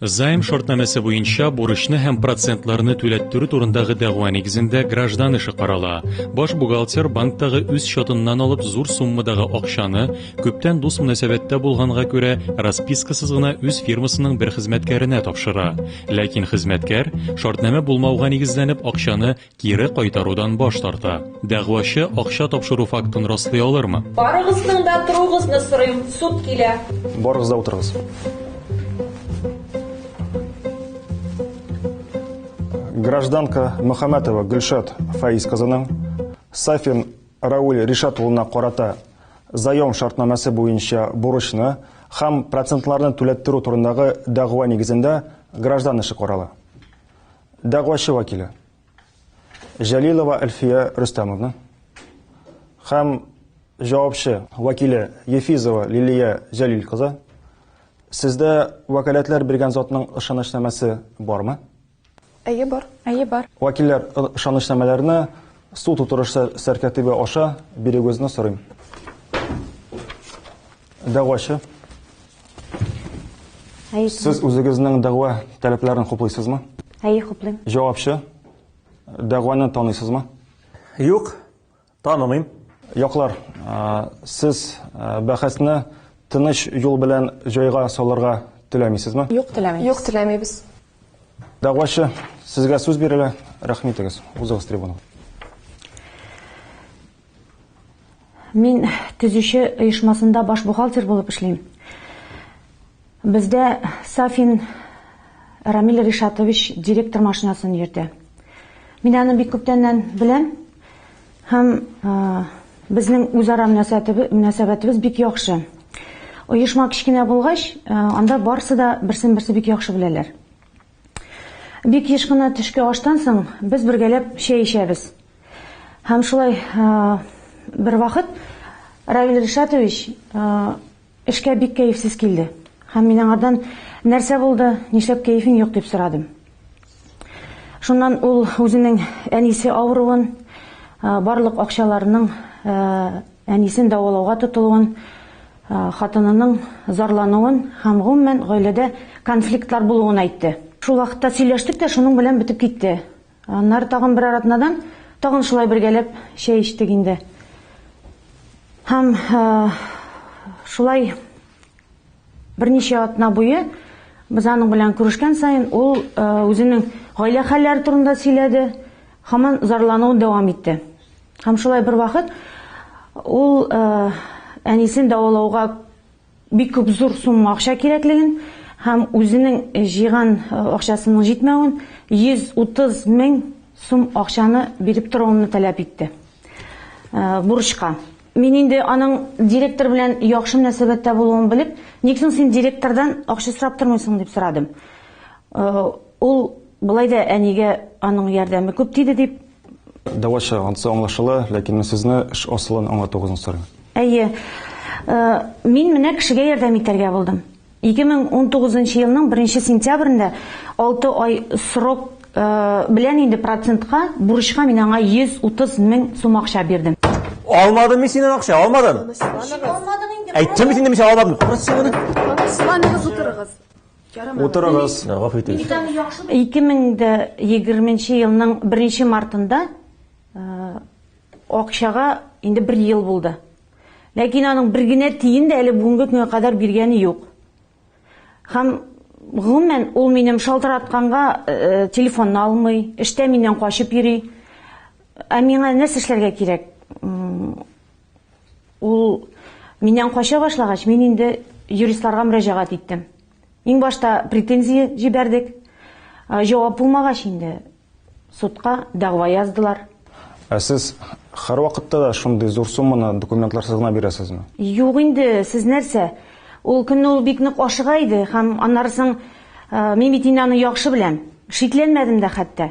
Займ шортнамәсе буенча бурычны һәм процентларны түләттерү турындагы дәгъва нигезендә граждан эше карала. Баш бухгалтер банктагы үз счетыннан алып зур суммадагы акчаны, күптән дус мөнәсәбәттә булганга күрә, распискасыз гына үз фирмасының бер хезмәткәренә тапшыра. Ләкин хезмәткәр, шортнамә булмауга нигезләнеп, акчаны Кире кайтарудан баш тарта. Дәгъвачы акча тапшыру фактын раслый алырмы? Барыгызның да торуыгызны сорыйм, суд килә. Барыгыз да утырыгыз. Гражданка Мөхәммәтова Гөлшат Фаиз кызының Сафин Рауль Ришат улына карата заем шартнамәсе буенча бурычны һәм процентларны түләттерү турындагы дәгъва нигезендә граждан эше карала. Дәгъвачы вәкиле Җәлилова Әлфия Рөстәмовна һәм җавапчы вәкиле Ефизова Лилия Җәлил кызы, сездә вәкаләтләр биргән затның ышанычнамәсе бармы? Әйе, бар. Әйе, бар. Вәкилләр ышанычнамәләрне суд утырышы сәркәтибе аша бирегезне сорыйм. Дәгъвачы. Әйе. Сез үзегезнең дәгъва таләпләрен хуплыйсызмы? Әйе, хуплыйм. Җавапчы, дәгъваны таныйсызмы? Юк, танымыйм. Яклар, сез бәхәсне тыныч юл белән җайга салырга теләмисезме? Юк, теләмибез. Юк, теләмибез. Дәгъвачы, сезгә сүз бирелә. Рәхмитегез. Узыгыз трибунага. Мин төзүче оешмасында баш бухгалтер булып эшлим. Бездә Сафин Рамиль Ришатович директор машинасын йөртә. Мин аны бик күптәннән беләм һәм безнең үзара мөнәсәбәтебез бик яхшы. Оешма кечкенә булгач, анда барысы да берсен-берсе бик яхшы беләләр. Бик еш кына төшке аштан соң без бергәләп чәй эчәбез. Һәм шулай бер вакыт Равил Ришатович эшкә бик кәефсез килде. Һәм мин аңардан, Нәрсә булды, нишләп кәефең юк? дип сорадым. Шуннан ул үзенең әнисе авыруын, барлык акчаларының, Әнисен дәвалауга тотылуын, хатынының зарлануын һәм, гомумән, гаиләдә конфликтлар булуын әйтте. Шул вакытта сөйләштек тә, шуның белән бетеп китте. Аннары тагын берәр атнадан тагын шулай бергәләп чәй эчтек инде. Һәм шулай берничә атна буе без аның белән күрешкән саен ул үзенең гаилә хәлләре турында сөйләде, һаман зарлануын дәвам итте. Һәм шулай бервакыт ул әнисен дәвалауга бик күп зур сумма акча кирәклеген һәм үзенең җыйган акчасының җитмәвен 130 мең сум акчаны биреп торуымны таләп итте. Бурычка. Мин инде аның директор белән яхшы мөнәсәбәттә булуын белеп, Ник соң син директордан акча сорап тормыйсың? дип сорадым. Ул болай да әнигә аның ярдәме күп тиде, дип Дәвачы, ансы аңлашыла, ләкин мин сезне эш асылын аңлатуыгызны сорыйм. Әйе. Мин менә кешегә ярдәм итәргә булдым. 2019 елның 1 сентябрендә 6 ай срок белән инде процентка бурычка мин аңа 130 мең сум акча бирдем. Алмадым мин синнән акча, алмадым! Тынычланыгыз. Әйттем бит инде мин сиңа алмадым. Тынычланыгыз, утырыгыз. Утырыгыз, гафу итегез. 2020 елның 1 мартында акчага инде бер ел булды. Ләкин аның бер генә тиен дә әле бүгенге көнгә кадәр биргәне юк. Һәм, гомумән, ул минем шалтыратканга телефонны алмый, эштә миннән качып йөри. Ә миңа нәрсә эшләргә кирәк? Ул миннән кача башлагач, мин инде юристларга мөрәҗәгать иттем. Иң башта претензия җибәрдек. Җавап булмагач инде судка дәгъва яздылар. Ә сез һәрвакытта да шундый зур сумманы документларсыз гына бирәсезме? Юк инде, сез нәрсә? Ул көнне ул бик нык ашыга иде һәм аннары соң мин бит инде аны яхшы беләм. Шикләнмәдем дә хәтта.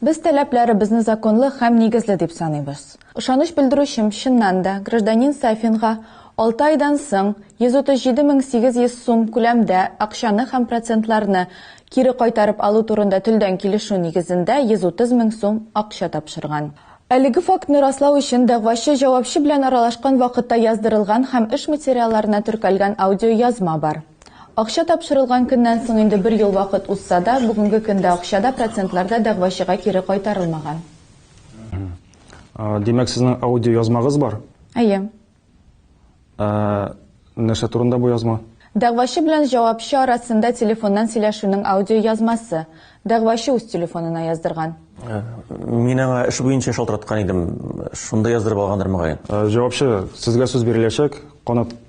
Без таләпләребезне законлы һәм нигезле дип саныйбыз. Ышаныч белдерүчем, чыннан да, гражданин Сафинга алты айдан соң 137 мең 800 сум күләмдә акчаны һәм процентларны кире кайтарып алу турында телдән килешү нигезендә 130 мең сум акча тапшырган. Әлеге фактны раслау өчен дәгъвачы җавапчы белән аралашкан вакытта яздырылган һәм эш материалларына теркәлгән аудиоязма бар. Акча тапшырылган көннән соң инде бер ел вакыт узса да, бүгенге көндә акча да, процентлар да дәгъвачыга кире кайтарылмаган. Димәк, сезнең аудиоязмагыз бар? Әйе. Ә нәрсә турында бу язма? Дәгъвачы белән җавапчы арасында телефоннан сөйләшүнең аудиоязмасы. Дәгъвачы үз телефонына яздырган. Мин аңа эш буенча шалтыраткан идем, шунда яздырып алгандыр, мөгаен. Җавапчы, сезгә сүз биреләчәк, канат.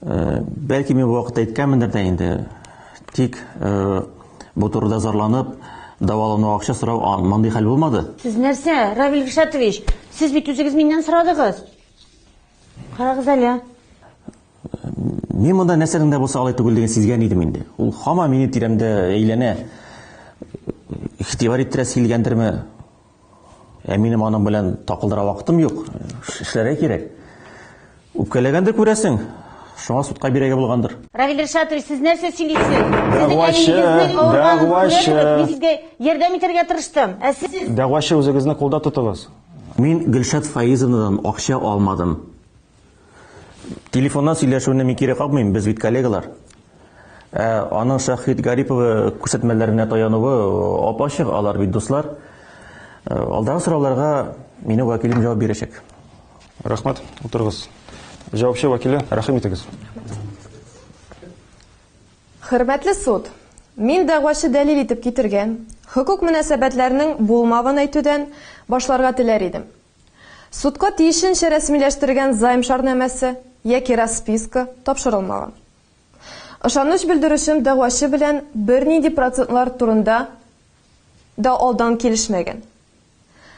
Э, бәлки мин бу вакытта әйткәнмендер дә инде тик э, бу турыда зарланып дәвалану акча сорау мондый хәл булмады сез нәрсә равил ришатович сез бит үзегез миннән сорадыгыз карагыз әле мин монда нәрсәнең дә булса алай түгел диген сизгән идем инде ул һаман минем тирәмдә әйләнә игътибар иттерәсе килгәндерме Ә минем аның белән такылдыра вакытым юк. Эшләргә кирәк. Үпкәләгәндер күрәсең. Шуңа судка бирәгә булгандыр. Равил Ришатович, сез нәрсә сөйлисез? Дәгъвачы, дәгъвачы. Мин сезгә ярдәм итәргә тырыштым. Ә сез Дәгъвачы үзегезне кулда тотыгыз. Мин Гөлшат Фаизовнадан акча алмадым. Телефоннан сөйләшүне мин кире какмыйм, без бит коллегалар. Ә аның Шәһит Гариповы күрсәтмәләренә таянуы ап-ачык, алар бит дуслар. Ә, Алдагы сорауларга минем вәкилем җавап бирәчәк. Рәхмәт, утырыгыз. Җавапчы вәкиле, рәхим итегез. Хөрмәтле суд, мин дәгъвачы дәлил итеп китергән хокук мөнәсәбәтләрнең булмавын әйтүдән башларга теләр идем. Судка тиешенчә рәсмиләштергән займ шарнамәсе яки расписка тапшырылмаган. Ышаныч белдерүчем дәгъвачы белән бернинди процентлар турында да алдан килешмәгән.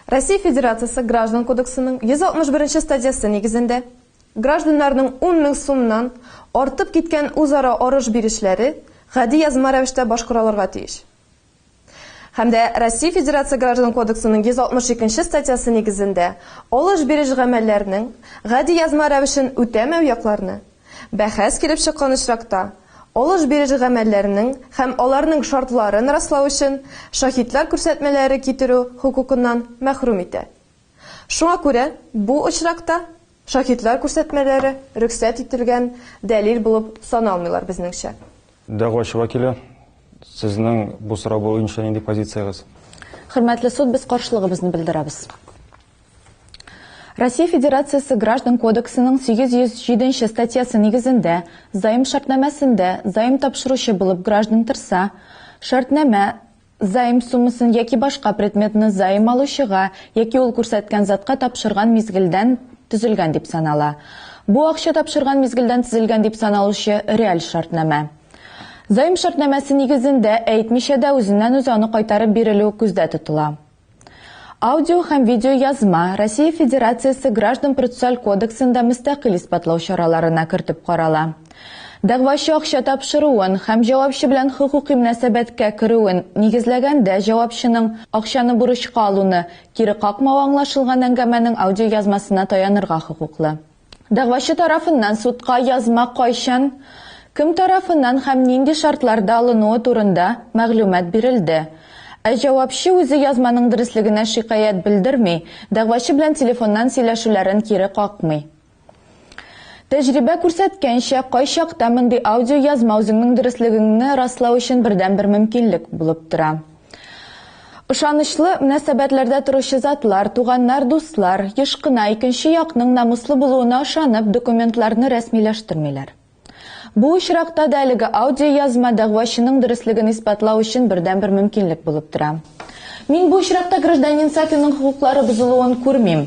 Россия Федерациясе Граждан кодексының 161 нче статьясы нигезендә гражданнарның ун мең сумнан артып киткән үзара арыш-бирешләре гади язма рәвештә башкаралырга тиеш. һәм дә Россия Федерация Граждан кодексының 162 нче статьясы нигезендә алыш-биреш гамәлләренең гади язма рәвешен үтәмәү якларны, бәхәс килеп чыккан очракта, алыш-биреш гамәлләренең һәм аларның шартларын раслау өчен шаһитлар күрсәтмәләре китерү хокукыннан мәхрүм итә. Шуңа күрә бу очракта Шаһитлар күрсәтмәләре рөхсәт ителгән дәлил булып саналмыйлар, безнеңчә. Дәгъвачы вәкиле, сезнең бу сорау буенча нинди позициягез? Хөрмәтле суд, без каршылыгыбызны белдерәбез. Россия Федерациясе Граждан кодексының 807 нче статьясы нигезендә заем шартнамәсендә заем тапшыручы булып граждан торса, шартнамә Заем суммасын яки башка предметны заем алучыга яки ул күрсәткән затка тапшырган мизгелдән төзелгән дип санала. Бу акча тапшырган мизгелдән төзелгән дип саналучы реаль шартнамә. Заем шартнамәсе нигезендә әйтмичә дә үзеннән-үзе аны кайтарып бирелү күздә тотыла. Аудио һәм видеоязма Россия Федерациясе Граждан-процессуаль кодексында мөстәкыйль исбатлау чараларына кертеп карала. Дәгъвачы акча тапшыруын һәм җавапчы белән хокукый мөнәсәбәткә керүен нигезләгәндә җавапчының акчаны бурычка алуны кире какмавы аңлашылган әңгәмәнең аудиоязмасына таянырга хокуклы. Дәгъвачы тарафыннан судка язма кайчан, кем тарафыннан һәм нинди шартларда алынуы турында мәгълүмат бирелде. Ә җавапчы үзе язманың дөреслегенә шикаять белдерми, дәгъвачы белән телефоннан сөйләшүләрен кире какмый. Тәҗрибә күрсәткәнчә, кайчакта мондый аудиоязма үзеңнең дөреслегеңне раслау өчен бердәнбер мөмкинлек булып тора. Ышанычлы мөнәсәбәтләрдә торучы затлар, туганнар, дуслар, еш кына икенче якның намуслы булуына ышанып, документларны рәсмиләштермиләр. Бу очракта да әлеге аудиоязма дәгъвачының дөреслеген исбатлау өчен бердәнбер мөмкинлек булып тора. Мин бу очракта гражданин Сафинның хокуклары бозылуын күрмим.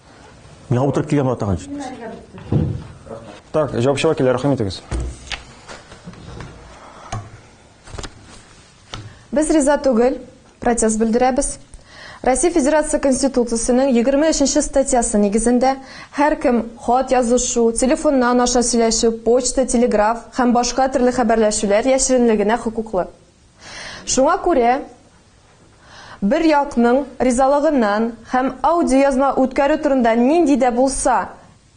Миңа утырып килгән бала тагын җитмәс. Так, җавапчыга килә, рәхим итегез. Без риза түгел, протест белдерәбез. Россия Федерация Конституциясенең 23 статьясы нигезендә һәркем хат язышу, телефоннан аша сөйләшү, почта, телеграф һәм башка төрле хәбәрләшүләр яшеренлегенә хокуклы. Шуңа күрә Бер якның ризалыгыннан һәм аудиоязма үткәрү турында нинди дә булса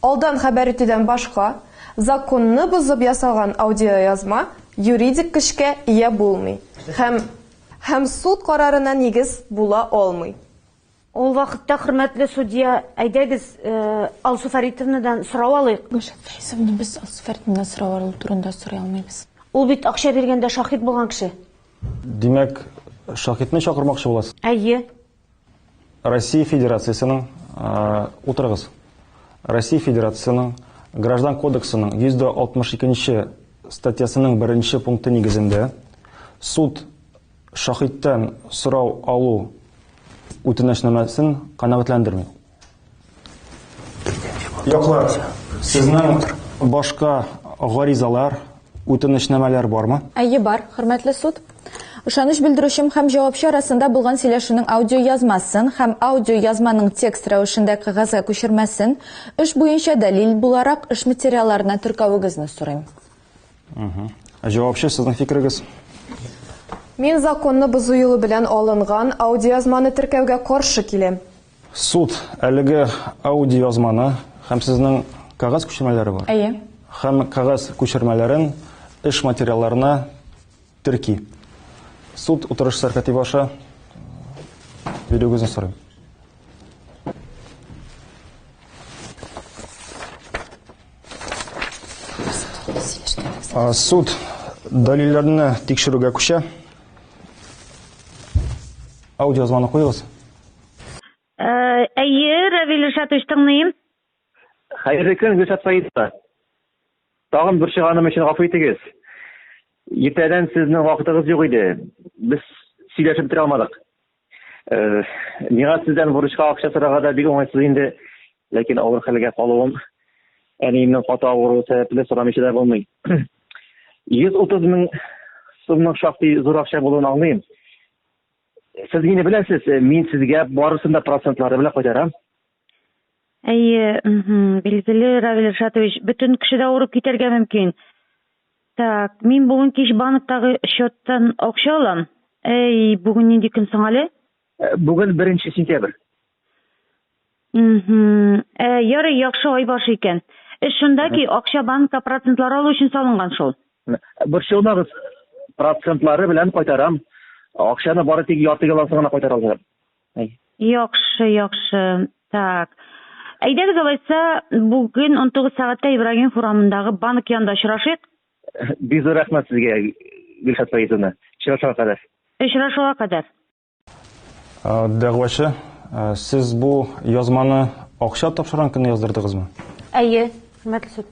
алдан хәбәр итүдән башка законны бозып ясалган аудиоязма юридик көчкә ия булмый һәм һәм суд карарына нигез була алмый. Ул вакытта, хөрмәтле судья, әйдәгез, Алсу Фәритовнадан сорау алыйк. Гөлшат Фәйсовна, без Алсу Фәритовнадан сорау алу турында сорый алмыйбыз. Ул бит акча биргәндә шаһит булган кеше. Димәк, шаһитны чакырмакчы буласыз? Әйе. Россия Федерациясенең, утырыгыз. Россия Федерациясенең Граждан кодексының 162 нче статьясының беренче пункты нигезендә суд Шаһиттән сорау алу үтенәчнамәсен канәгатьләндерми. Яклар, сезнең башка гаризалар, үтенәчнамәләр бармы? Әйе, бар, хөрмәтле суд. Ышаныч белдерүчем һәм җавапчы арасында булган сөйләшүнең аудиоязмасын һәм аудиоязманың текст рәвешендә кәгазьгә күчермәсен, эш буенча дәлил буларак, эш материалларына теркәвегезне сорыйм. Җавапчы, сезнең фикерегез? Мин законны бозу юлы белән алынган аудиоязманы теркәүгә каршы киләм. Суд әлеге аудиоязманы һәм сезнең кәгазь күчермәләре бар. Әйе. Һәм кәгазь күчермәләрен эш материалларына терки. Суд утырыш сәркәтибе аша бирүегезне сорыйм. Суд дәлилләрне тикшерүгә күчә. Аудиозвонок куегыз. Әйе, Равил Ришатович, тыңлыйм. Хәерле көн, Гөлшат Фаизовна. Тагын борчыганым өчен гафу итегез. Иртәдән сезнең вакытыгыз юк иде. Без сөйләшеп бетерә алмадык. Э, миңа сездән бурычка акча сорарга да бик уңайсыз инде. Ләкин авыр хәлгә калуым, әниемнең каты авыруы сәбәпле сорамыйча да булмый. 130 мең сумның шактый зур акча булуын аңлыйм. Сез мине беләсез, мин сезгә барысын да процентлары белән кайтарам. Әйе, мхм, билгеле, Равил Ришатович, бөтен кеше дә авырып китәргә мөмкин. Так, мин бүген кич банктагы счеттан акча алам. Әй, бүген нинди көн соң әле? Э, Бүген беренче сентябрь. Мхм. Ә, ярый, яхшы ай башы икән. Эш шунда ки, акча банкка процентлар алу өчен салынган шул. Борчылмагыз, процентлары белән кайтарам. Акчаны бары тик ярты ялансын гына кайтара алам. Әй. Яхшы, яхшы. Так. Әйдәгез алайса, бүген унтугыз сәгатьтә Ибрагим хурамындагы банк янында очрашыйк. Бик зур рәхмәт сезгә, Гөлшат Фаизовна. Очрашуга кадәр. Очрашуга кадәр. Дәгъвачы, Сез бу язманы акча тапшырган көнне яздырдыгызмы? Әйе, хөрмәтле суд.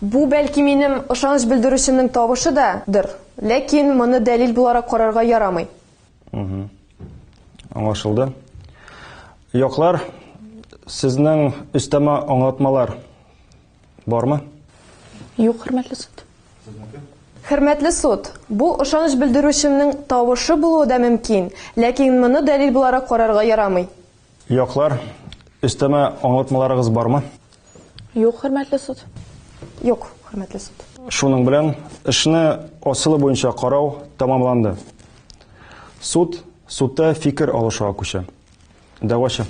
Бу, бәлки, минем ышаныч белдерүчемнең тавышы да дыр, ләкин моны дәлил буларак карарга ярамый. Аңлашылды. Яклар, сезнең өстәмә аңлатмалар бармы? Юк, хөрмәтле суд. Хөрмәтле суд, бу ышаныч белдерүчемнең тавышы булуы да мөмкин, ләкин моны дәлил буларак карарга ярамый. Яклар, өстәмә аңлатмаларыгыз бармы? Юк, хөрмәтле суд. Юк, хөрмәтле суд. Шуның белән эшне асылы буенча карау тәмамланды. Суд судта фикер алышуга күчә. Дәгъвачы.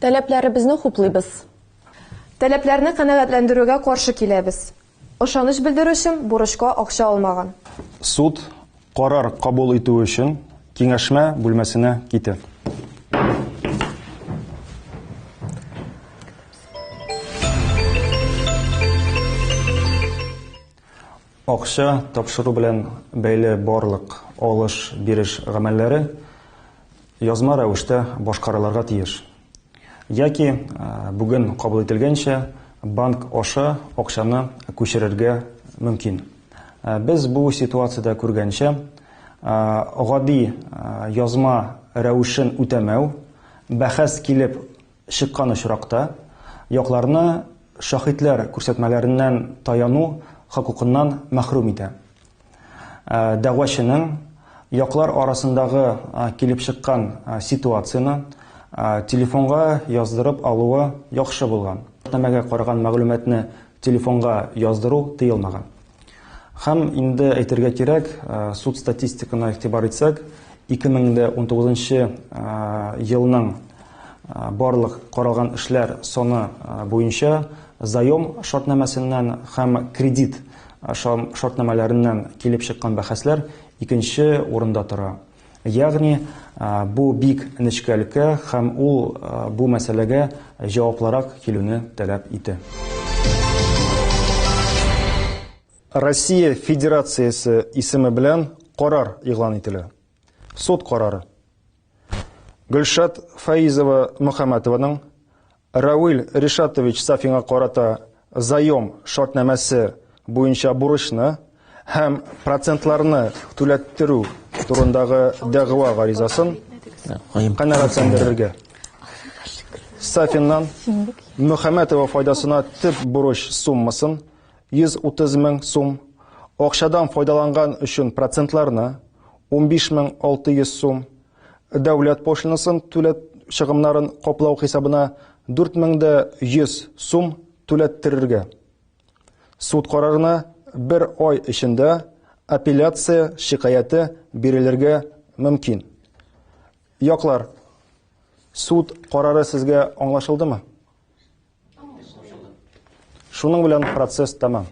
Таләпләребезне хуплыйбыз. Таләпләрне канәгатьләндерүгә каршы киләбез. Ышаныч белдерүчем бурычка акча алмаган. Суд карар кабул итү өчен киңәшмә бүлмәсенә китә. Акча тапшыру белән бәйле барлык алыш-биреш гамәлләре язма рәвештә башкарылырга тиеш. Яки, бүген кабул ителгәнчә, банк аша акчаны күчерергә мөмкин. Без бу ситуациядә күргәнчә, гади язма рәвешен үтәмәү бәхәс килеп чыккан очракта, якларны шаһитләр күрсәтмәләреннән таяну хокукыннан мәхрүм итә. дәгъвачының яклар арасындагы килеп чыккан ситуацияне телефонга яздырып алуы яхшы булган. Шартнамәгә караган мәгълүматны телефонга яздыру тыелмаган. Һәм инде әйтергә кирәк, суд статистикына игътибар итсәк, 2019 елның барлык каралган эшләр саны буенча заем шартнамәсеннән һәм кредит Ашау шартнамәләреннән килеп чыккан бәхәсләр икенче урында тора. Ягъни, бу бик нечкә өлкә һәм ул бу мәсьәләгә җаваплырак килүне таләп итә. Россия Федерациясе исеме белән карар игълан ителә. Суд карары. Гөлшат Фаизова Мөхәммәтованың Равил Ришатович Сафинга карата заем шартнамәсе буенча бурычны һәм процентларны түләттерү турындагы дәгъва гаризасын канәгатьләндерергә. Сафиннан Мөхәммәтова файдасына төп бурыч суммасын 130 мең сум, акчадан файдаланган өчен процентларны 15600 сум, Дәүләт пошлинасын түләт чыгымнарын каплау хисабына 4100 сум түләттерергә. Суд карарына бер ай эчендә апелляция шикаяте бирелергә мөмкин. Яклар, суд карары сезгә аңлашылдымы? Шуның белән процесс тәмам.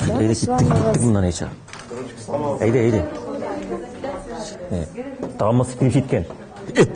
Әйдә киттек моннан әйчә. Әйдә, әйдә. Тамы сикенеп киткән. Эт.